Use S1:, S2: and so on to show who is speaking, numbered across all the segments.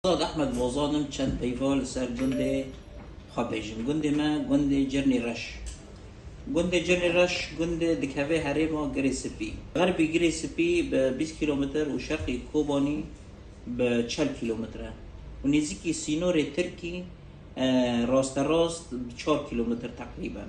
S1: Azad Ehmed Bozan im çend peyva li ser gundê xwe bêjim. Gundê me gundê Cirnî Reş. Gundê Cirnî Reş gundê dikeve herêma Girê Sipî. Xerbî Girê Sipî bi bîst kîlometre û şerqî Kobanî bi çel kîlometre û nêzîkî sînorê Tirkî rasterast bi çar kîlometre teqrîben.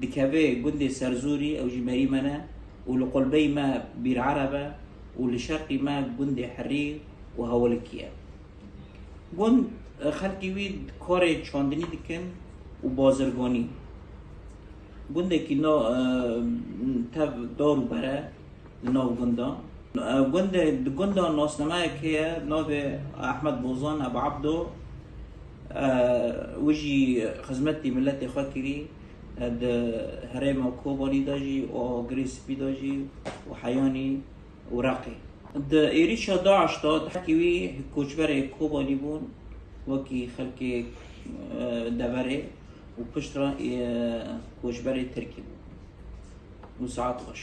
S1: Dikeve gundê Serzûrî ew jî merî me ne û li qolbeyî me Bîrereb e û li şerqî me gundê Hirrî û Hewilikî ye. Gund û xelkê wî karê çandinî dikin û bazirganî. Gundekî nav tev dar û bere. li nav gundan. Gundê di gundan nasnameyek heye navê Ahmed Bozan Ebu Abdo û jî xizmetî miletê xwe kirî di herêma Kobanî de jî û Girê Spî de jî û Heyanî û Reqê. Di êrîşa DAIŞ de dehekî wî koçberê Kobanî bûn wekî xelkê deverê û piştre koçberê Tirkî bûn. Nûsaet xweş.